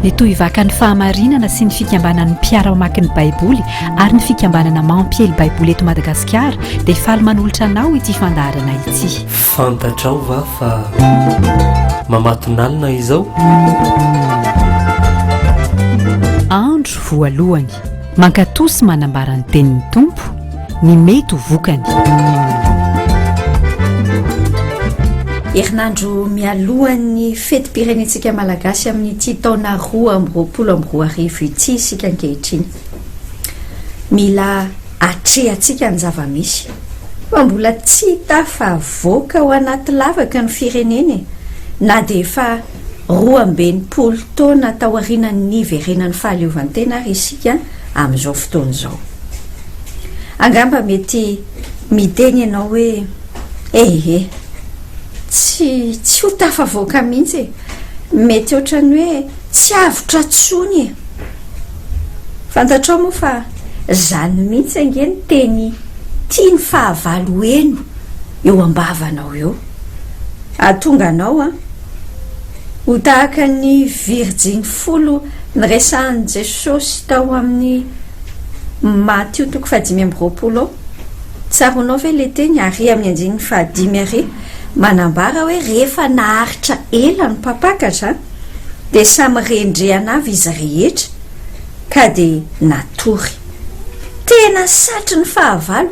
Ny tohivakan'ny fahamarinana sy ny fikambanan'ny mpiara-mamaky ny Baiboly ary ny fikambanana mampiely Baiboly eto Madagasikara dia faly manolotra anao ity fandaharana ity. Fantatrao va fa mamatonalina izao? Andro voalohany. Mankatoa sy manambara ny tenin'ny Tompo ny mety ho vokany. Herinandro mialohan'ny fetim-pirenentsika malagasy amin'ity taona roa amby roapolo amby roa arivo ity isika ankehitriny. Mila atrehantsika ny zava-misy fa mbola tsy tafavoaka ao anaty lavaka ny firenena e. na dia efa Roa amby enimpolo taona taorianan'ny niverenan'ny fahaleovantena àry isika amin'izao fotoana izao. Angamba mety miteny ianao hoe, Ehe, tsy, tsy ho tafavoaka mihitsy e! Mety hoatran'ny hoe tsy avotra intsony e! Fantatrao moa fa izany mihitsy ange ny teny tian'ny fahavalo heno eo am-bavanao eo. Hahatonga anao, Ho tahaka ny virjiny folo niresahan'i Jesosy tao amin'ny Matio toko fahadimy amby roapolo ao. Tsaroanao ve ilay teny ary amin'ny andininy fahadimy ary manambara hoe rehefa naharitra ela ny mpampakatra dia samy rendrehana avy izy rehetra ka dia natory. Tena satrin'ny fahavalo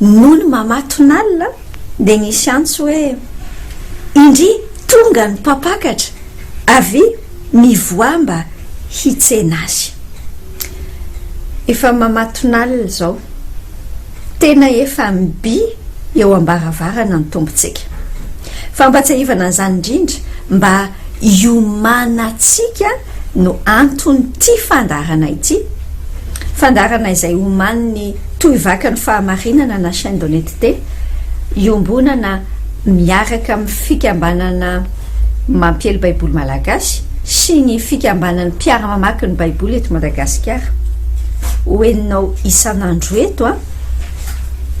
Nony mamatonalina dia nisy antso hoe, Indry tonga ny mpampakatra, avia mivoaha mba hitsena azy. Efa mamatonalina izao, tena efa mibi eo am-baravarana ny Tompontsika. Fampatsiahivana an'izany indrindra mba hiomanantsika no anton'ity fandaharana ity, fandaharana izay omanin'ny Tohivakan'ny Fahamarinana na Chaîne d'Honnêteté, iombonana miaraka amin'ny Fikambanana Mampiely Baiboly Malagasy sy ny Fikambanan'ny Mpiara-mamaky ny Baiboly eto Madagasikara. Hohenonao isan'andro eto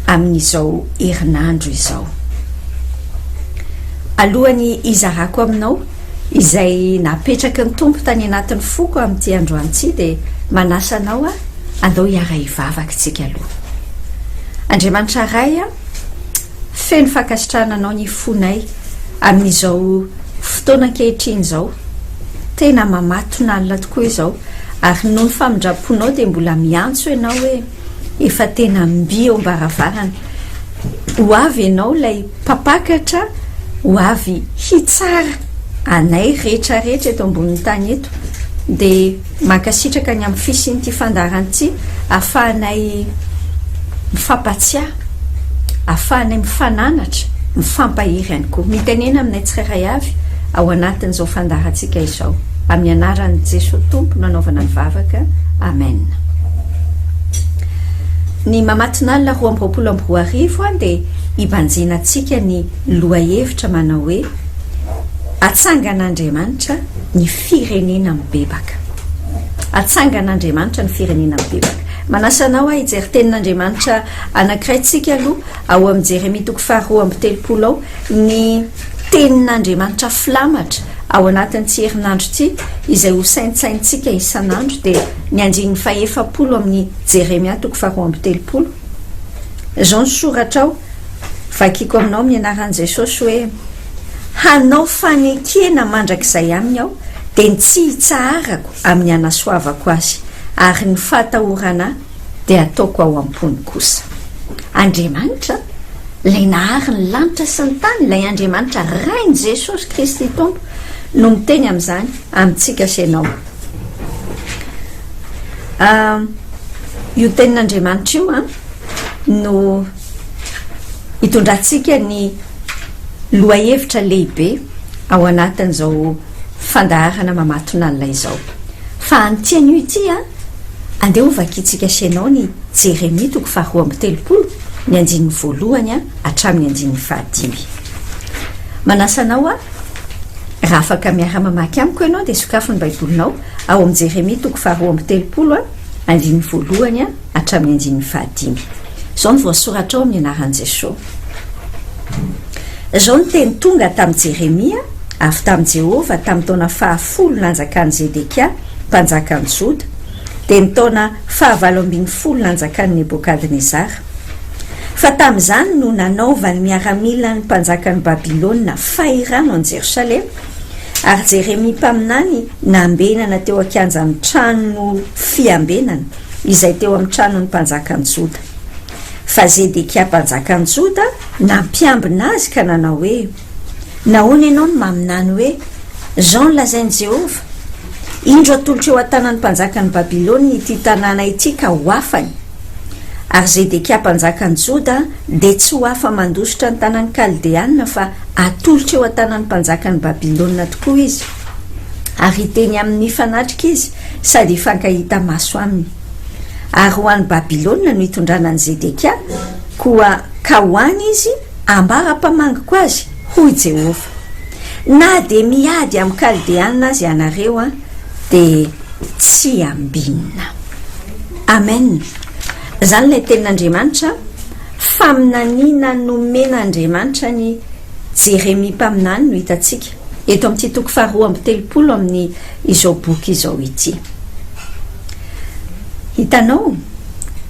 amin'izao herinandro izao. Alohan'ny hizarako aminao izay napetraky ny Tompo tany anatin'ny foko amin'ity androany ity dia manasa anao aho andao hiara-hivavaka isika aloha. Andriamanitra Ray a, feno fankasitrahana anao ny fonay amin'izao fotoana ankehitriny izao, tena mamatonalina tokoa izao ary noho ny famindram-ponao dia mbola miantso ianao hoe. Efa tena mby eo am-baravarana. Ho avy ianao ilay Mpampakatra ho avy hitsara anay rehetra rehetra eto ambonin'ny tany eto. Dia mankasitraka ny amin'ny fisian'ity fandaharan'ity ahafahanay mifampahatsiahy. ahafahanay mifananatra, mifampahery ihany koa. Mitenena aminay tsirairay avy ao anatin'izao fandaharantsika izao. Amin'ny anaran'i Jesoa Tompo no anaovana ny vavaka. Amen. Ny Mamatonalina roa amby roapolo amby roa arivo dia hibanjina antsika ny lohahevitra manao hoe Atsangan'Andriamanitra ny firenena mibebaka. Atsangan'Andriamanitra ny firenena mibebaka. Manasa anao aho hijery Tenin'Andriamanitra anankiray tsika aloha ao amin'ny Jeremia toko faharoa amby telopolo ao, ny Tenin'Andriamanitra filamatra ao anatin'ity herinandro ity, izay ho saintsainintsika isan'andro dia ny andininy fahefapolo amin'ny Jeremia toko faharoa amby telopolo. Izao ny soratra ao, vakiko aminao amin'ny anaran'i Jesosy hoe. hanao fanekena mandrakizay aminy aho, dia ny tsy hitsaharako amin'ny hanasoavako azy, ary ny fahatahorana ahy dia hataoko ao am-pony kosa. Andriamanitra, ilay nahary ny lanitra sy ny tany, ilay Andriamanitra Rain'i Jesosy Kristy Tompo, no miteny amin'izany amintsika sy ianao. Io tenin'Andriamanitra io no. hitondrantsika ny lohahevitra lehibe ao anatin'izao fandaharana mamatonalina izao. Fa an'ity anio ity an, andeha ho vakintsika sy ianao ny Jeremia toko faharoa amby telopolo, ny andininy voalohany an hatramin'ny andininy fahadimy. Manasa anao aho, raha afaka miara-mamaky amiko ianao dia sokafy ny Baibolinao ao amin'ny Jeremia toko faharoa amby telopolo an, andininy voalohany an, hatramin'ny andininy fahadimy. Izao no voasoratra ao amin'ny anaran'i Jesosy, Izao no teny tonga tamin'i Jeremia avy tamin'i Jehovah tamin'ny taona fahafolo nanjakan'i Zedekia mpanjakan'i Joda, dia ny taona fahavalo ambin'ny folo nanjakan'i Nebokadnezara, Fa tamin'izany no nanaovan'ny miaramilan'ny mpanjakan'i Babylona fahirano an'i Jerosalema, ary Jeremia mpaminany nambenana teo an-kianjan'ny trano fiambenana. izay teo amin'ny tranon'ny mpanjakan'ny Joda. Fa Zedekia mpanjakan'ny Joda nampiambina azy ka nanao hoe, Nahoana ianao no maminany hoe, 'Izao no lazain'i Jehovah, Indro atolotro eo an-tanan'ny mpanjakan'i Babylona ity tanàna ity ka ho afany'? Ary Zedekia mpanjakan'ny Joda dia tsy ho afa-mandositra ny tanan'ny Kaldeanina fa atolotro eo an-tanan'ny mpanjakan'i Babylona tokoa izy. Ary hiteny aminy mifanatrika izy sady hifankahita maso aminy. Ary ho any Babylona no hitondrana an'i Zedekia, koa ka ho any izy ambara-pamangiko azy, hoy Jehovah. Na dia miady amin'ny Kaldeana aza ianareo, dia tsy ambinina. Amen. Izany ilay tenin'Andriamanitra, faminaniana nomen'Andriamanitra an'i Jeremia mpaminany no hitantsika. eto amin'ity toko faharoa amby telopolo amin'ny izao boky izao ity. Hitanao,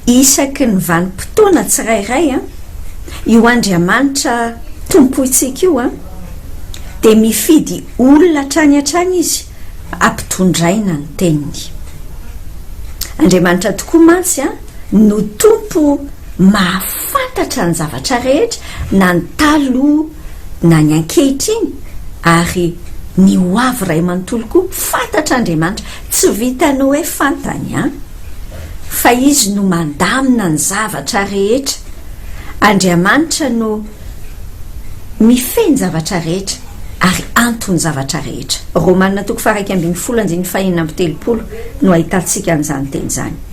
isaky ny vanim-potoana tsirairay an, io Andriamanitra Tompointsika io an, dia mifidy olona hatrany hatrany Izy hampitondraina ny Teniny. Andriamanitra tokoa mantsy an no Tompo maha fantatra ny zavatra rehetra na ny taloha na ny ankehitriny ary ny ho avy ray manontolo koa fantatra Andriamanitra tsy vitan'ny hoe fantany an! fa izy no mandamina ny zavatra rehetra Andriamanitra no mifehy ny zavatra rehetra ary anton'ny zavatra rehetra Romana toko faha iraika ambin'ny folo andininy fahenina amby telopolo no ahitantsika an'izany teny izany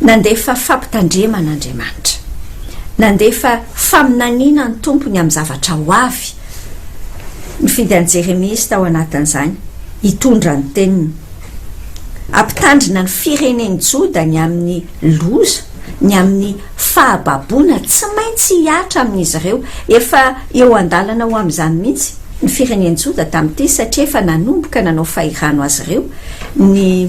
Nandefa fampitandremana Andriamanitra. Nandefa faminaniana ny Tompo ny amin'ny zavatra ho avy. Nifidy an'i Jeremia Izy tao anatin'izany, hitondra ny teniny. Hampitandrina ny firenen'i Joda ny amin'ny loza, ny amin'ny fahababoana tsy maintsy hihatra amin'izy ireo. Efa eo an-dalana ho amin'izany mihitsy ny firenen'i Joda tamin'ity, satria efa nanomboka nanao fahirano azy ireo ny.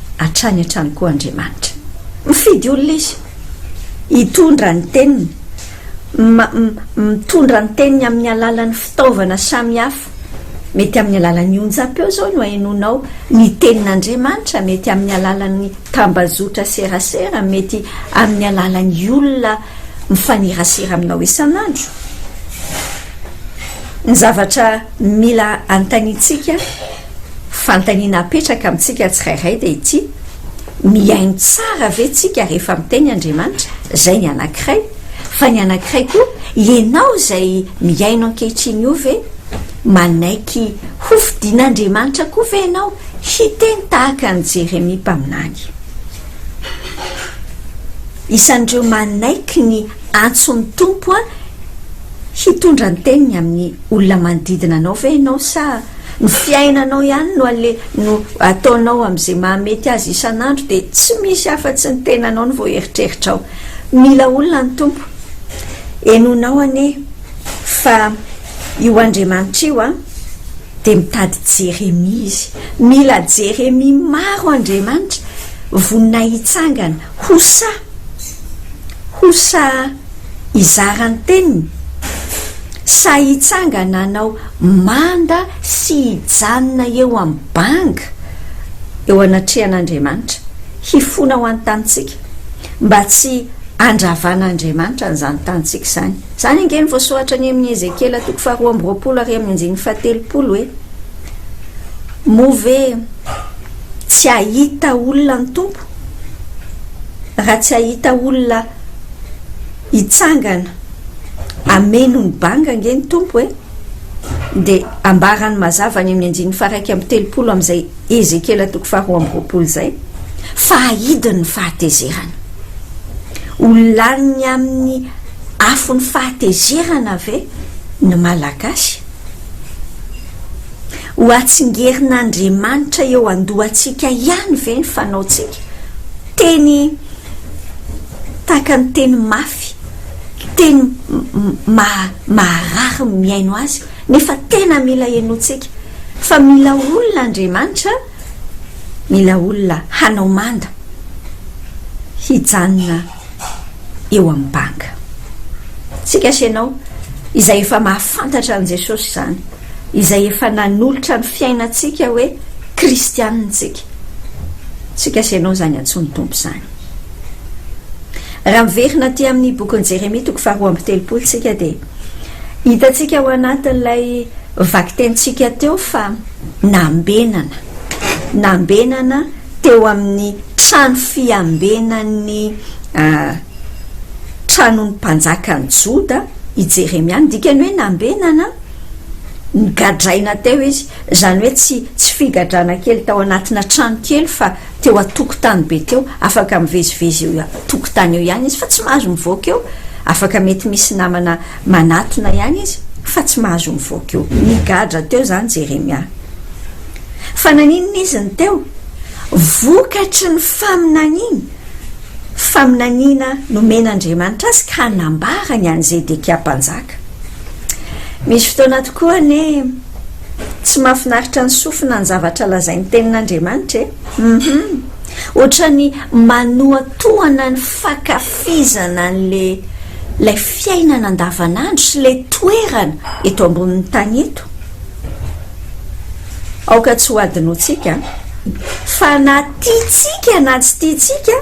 hatrany hatrany koa Andriamanitra. Mifidy olona Izy hitondra ny teniny, mitondra ny teniny amin'ny alalan'ny fitaovana samy hafa. Mety amin'ny alalan'ny onjam-peo izao no ahenoanao ny tenin'Andriamanitra, mety amin'ny alalan'ny tambazotra serasera, mety amin'ny alalan'ny olona mifanerasera aminao isan'andro. Ny zavatra mila anontaniantsika. Fanontaniana apetraka amintsika tsirairay dia ity, Mihaino tsara ve tsika rehefa miteny Andriamanitra? Izay ny anankiray. Fa ny anankiray koa, ianao izay mihaino ankehitriny io ve? Manaiky hofidin'Andriamanitra koa ve ianao hiteny tahaka an'i Jeremia mpaminany? Isan'ireo manaiky ny antson'ny Tompo hitondra ny teniny amin'ny. olona manodidina anao ve ianao sa ny fiainanao ihany no ale no ataonao amin'izay mahamety azy isan'andro dia tsy misy afa-tsy ny tenanao no voaeritreritrao mila olona ny tompo enonao anie fa io andriamanitra io a dia mitady jeremia izy mila jeremia maro andriamanitra vonona hitsangana hosa hosa hizara ny teniny sa hitsangana hanao manda sy hijanona eo amin'ny banga eo anatrehan'Andriamanitra, hifona ho an'ny tanintsika mba tsy handravan'Andriamanitra an'izany tanintsika izany. Izany ange no voasoratra any amin'ny Ezekiela toko faharoa amby roapolo ary amin'ny andininy fahatelopolo hoe, Moa ve tsy hahita olona ny Tompo? Raha tsy hahita olona hitsangana hameno ny banga ange ny Tompo e! dia ambarany mazava any amin'ny andininy faha-iraika amby telopolo amin'izay Ezekiela toko faharoa amby roapolo izay fa hahidiny ny fahatezerana. Ho lanin'ny amin'ny afon'ny fahatezerana ve ny Malagasy? Ho atsingerin'Andriamanitra eo an-dohantsika ihany ve ny fanaontsika? Teny tahaka ny teny mafy, teny maharary ny mihaino azy, nefa tena mila henointsika fa mila olona Andriamanitra, mila olona hanao manda hijanona eo amin'ny banga. Tsika sy ianao izay efa mahafantatra an'i Jesosy izany. izay efa nanolotra ny fiainantsika hoe kristianina isika. Tsy gasy ianao izany antsoin'ny Tompo izany. Raha miverina aty amin'ny bokin'i Jeremia toko faharoa amby telopolo isika dia hitantsika ao anatin'ilay vakitentsika teo fa nambenana, nambenana teo amin'ny trano fiambenan'ny ah, tranon'ny mpanjakan'i Joda, i Jeremia. Ny dikany hoe nambenana, nigadraina teo izy, izany hoe tsy tsy figadrana kely tao anatina trano kely fa teo an-tokotany be teo, afaka mivezivezy eo an-tokotany eo ihany izy fa tsy mahazo mivoaka eo, afaka mety misy namana manatona ihany izy fa tsy mahazo mivoaka eo. Nigadra teo izany Jeremia. Fa naninona izy no teo? Vokatry ny faminaniana. faminaniana nomen'Andriamanitra azy ka nambarany an'i Zedekia mpanjaka. Misy fotoana tokoa anie tsy mahafinaritra ny sofina ny zavatra lazain'ny Tenin'Andriamanitra e! Hum-hum! Ohatran'ny manohatohana ny fankafizana an'ilay ilay fiainana andavanandro sy ilay toerana eto ambonin'ny tany eto. Aoka tsy hohadinointsika fa na tiantsika na tsy tiantsika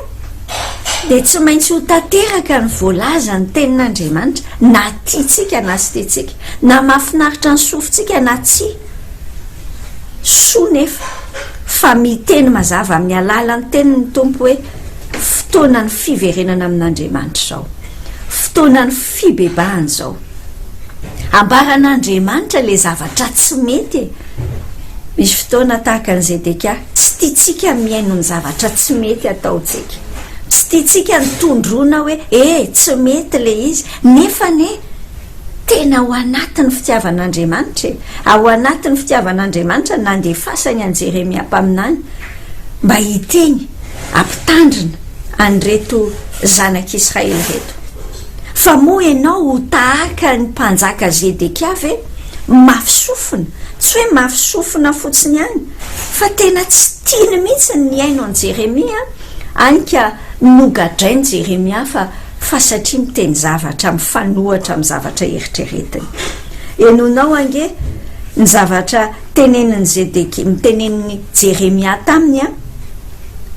dia tsy maintsy ho tanteraka ny voalazan'ny Tenin'Andriamanitra na tiantsika na tsy tiantsika, na mahafinaritra ny sofintsika na tsia. Soa nefa fa miteny mazava amin'ny alalan'ny Teniny ny Tompo hoe, Fotoanan'ny fiverenana amin'Andriamanitra izao. Fotoanan'ny fibebahana izao. Ambaran'Andriamanitra ilay zavatra tsy mety e! Misy fotoana tahaka an'i Zedekia, tsy tiantsika mihaino ny zavatra tsy mety ataontsika. Tsy tiantsika ny tondroina hoe e! tsy mety ilay izy, nefa anie tena ao anatin'ny fitiavan'Andriamanitra e! Ao anatin'ny fitiavan'Andriamanitra ny nandefasany an'i Jeremia mpaminany mba hiteny, hampitandrina an'ireto zanak'Israely ireto. Fa moa ianao ho tahaka ny mpanjaka Zedekia ve? Mafy sofina, tsy hoe mafy sofina fotsiny ihany, fa tena tsy tiany mihitsy ny nihaino an'i Jeremia, hany ka nogadrain'i Jeremia fa fa satria miteny zavatra mifanohitra amin'ny zavatra eritreretiny. Henonao ange ny zavatra Tenenin'i Zedekia, tenenin'i Jeremia taminy an,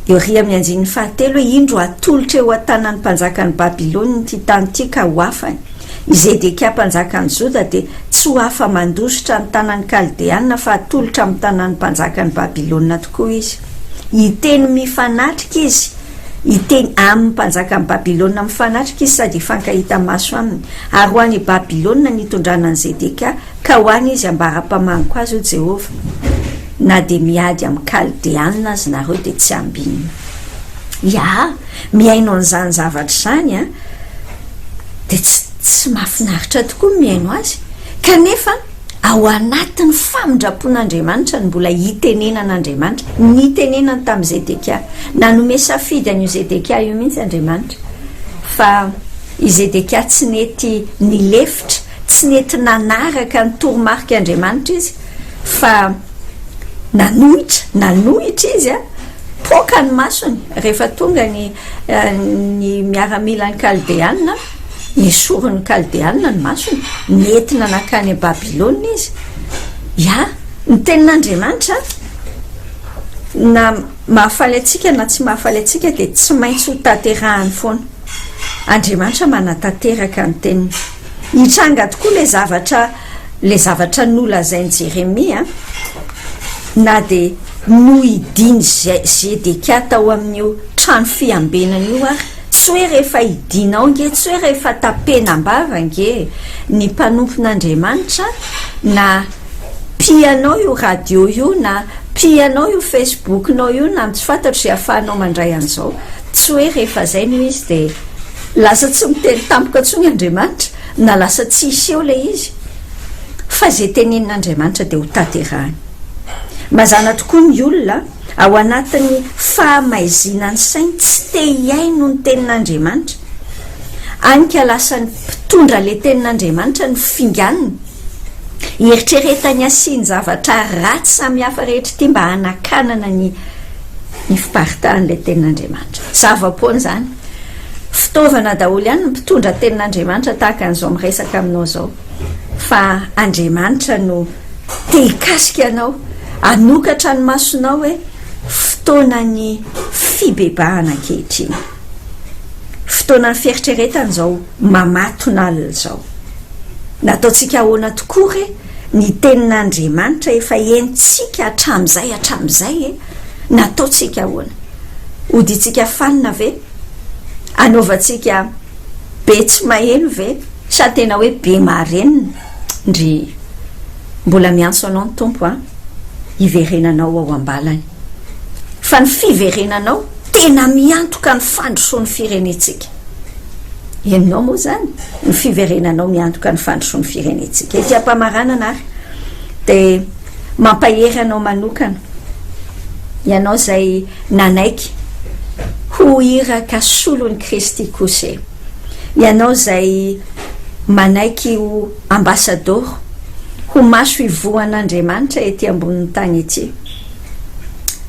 Uria amin'ny andininy fahatelo hoe, Indro hatolotra eo an-tanan'ny mpanjakan'i Babylona ity tany ity ka ho afany. I Zedekia mpanjakan'i Joda dia tsy ho afa-mandositra ny tanan'ny Kaldeana fa hatolotra amin'ny tanan'ny mpanjakan'i Babylona tokoa izy. Hiteny mifanatrika izy, hiteny amin'ny mpanjakan'i Babylona mifanatrika izy sady hifankahita maso aminy. Ary ho any Babylona ny hitondrana an'i Zedekia Ka ho any izy ambara mpamaniko azy, hoy Jehovah, Na dia miady amin'ny Kaldeanina aza ianareo, dia tsy hambinina. Iaa mihaino an'izany zavatra izany, dia tsy tsy mahafinaritra tokoa ny mihaino azy? Kanefa ao anatin'ny famindram-pon'Andriamanitra ny mbola hitenenan'Andriamanitra. Nitenenany tamin'i Zedekia. Nanome safidy an'io Zedekia io mihitsy Andriamanitra, fa i Zedekia tsy nety nilefitra. Tsy nety nanaraka ny toromarika Andriamanitra izy fa nanohitra, nanohitra izy a! Poaka ny masony rehefa tonga ny ny miaramilan'ny Kaldeanina, nesorin'ny Kaldeanina ny masony, nentina nankany à Babylona izy. Ya, ny tenin'Andriamanitra na mahafaly antsika na tsy mahafaly antsika dia tsy maintsy ho tanterahany foana. Andriamanitra manatanteraka ny teniny. Nitranga tokoa ilay zavatra, ilay zavatra nolazain'i Jeremia, na dia nohidian'i Zedekia tao amin'io trano fiambenana io ary. Tsy hoe rehefa hidiana ao ange, tsy hoe rehefa tapenam-bava ange ny mpanompon'Andriamanitra, na pihanao io radio io, na pihanao io Facebook-nao io, na tsy fantatro izay ahafahanao mandray an'izao, tsy hoe rehefa izay no izy dia. Lasa tsy miteny tampoka intsony Andriamanitra na lasa tsy hiseho ilay izy fa izay tenenin'Andriamanitra dia hotanterahiny. Mazàna tokoa ny olona ao anatin'ny fahamaizinan'ny sainy tsy te hihaino ny tenin'Andriamanitra, any ka lasan'ny mpitondra ilay tenin'Andriamanitra no finganiny, hieritreretany hasin-javatra ratsy samihafa rehetra ity mba hanakanana ny ny fiparitahan'ilay tenin'Andriamanitra. Zava-poana izany. Fitaovana daholo ihany ny mpitondra tenin'Andriamanitra tahaka an'izao miresaka aminao izao. Fa Andriamanitra no te hikasika anao, hanokatra ny masonao hoe fotoanan'ny fibebahana ankehitriny. Fotoanan'ny fieritreretana izao mamatona alina izao. Nataontsika ahoana tokoa re? ny tenin'Andriamanitra efa henontsika hatramin'izay hatramin'izay e! Nataontsika ahoana? Hodiantsika fanina ve? Hanaovantsika be tsy maheno ve? Sa tena hoe be marenina? Ndrii. Mbola miantso anao ny Tompo an, hiverenanao ao am-balany. fa ny fiverenanao tena miantoka ny fandrosoan'ny firenentsika. Henonao moa izany? Ny fiverenanao miantoka ny fandrosoan'ny firenentsika. Ety am-pamaranana ary dia mampahery anao manokana, ianao izay nanaiky ho iraka solon'i Kristy kosa e! Ianao izay manaiky ho ambasadoro, ho maso ivohan'Andriamanitra ety ambonin'ny tany ity.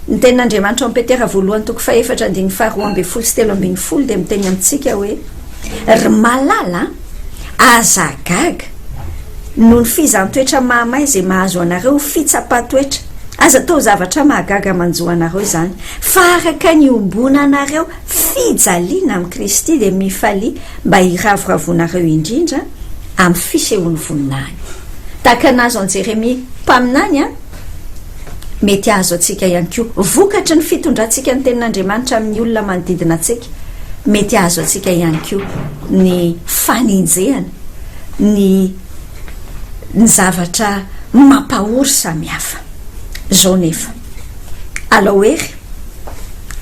Ny Tenin'Andriamanitra ao amin'ny Petera voalohany toko fahefatra andininy faharoa ambin'ny folo sy telo ambin'ny folo dia miteny amintsika hoe, Ry malala a, aza gaga noho ny fizaham-toetra mahamay izay mahazo anareo ho fitsapan-toetra, aza atao zavatra mahagaga manjo anareo izany, fa araka ny iombonanareo fijaliana amin'i Kristy dia mifalia mba hiravoravoanareo indrindra amin'ny fisehoan'ny voninahiny. Tahaka ny nahazo an'i Jeremia mpaminany an! mety hahazo antsika ihany koa. Vokatry ny fitondrantsika ny Tenin'Andriamanitra amin'ny olona manodidina antsika, mety hahazo antsika ihany koa ny fanenjehana ny ny zavatra mampahory samihafa. Izao nefa, alao hery,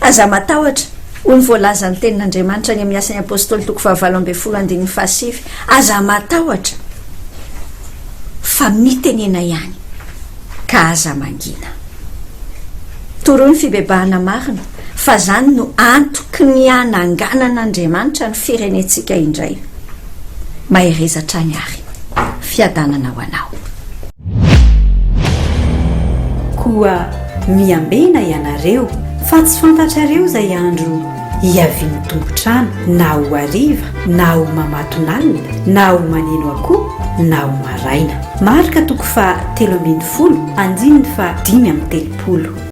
aza matahotra, hoy ny voalazan'ny Tenin'Andriamanitra any amin'ny Asan'ny Apôstôly toko fahavalo ambin'ny folo andininy fahasivy, aza matahotra, fa mitenena ihany ka aza mangina. Toroy ny fibebahana marina fa izany no antoky ny hananganan'Andriamanitra ny firenentsika indray. Mahereza hatrany ary. Fiadanana ho anao. Koa miambena ianareo fa tsy fantatrareo izay andro Hiavian'ny tompon-trano na ho hariva na ho mamatonalina na ho maneno akoho na ho maraina. Marka toko faha telo ambin'ny folo, andininy faha dimy amby telopolo.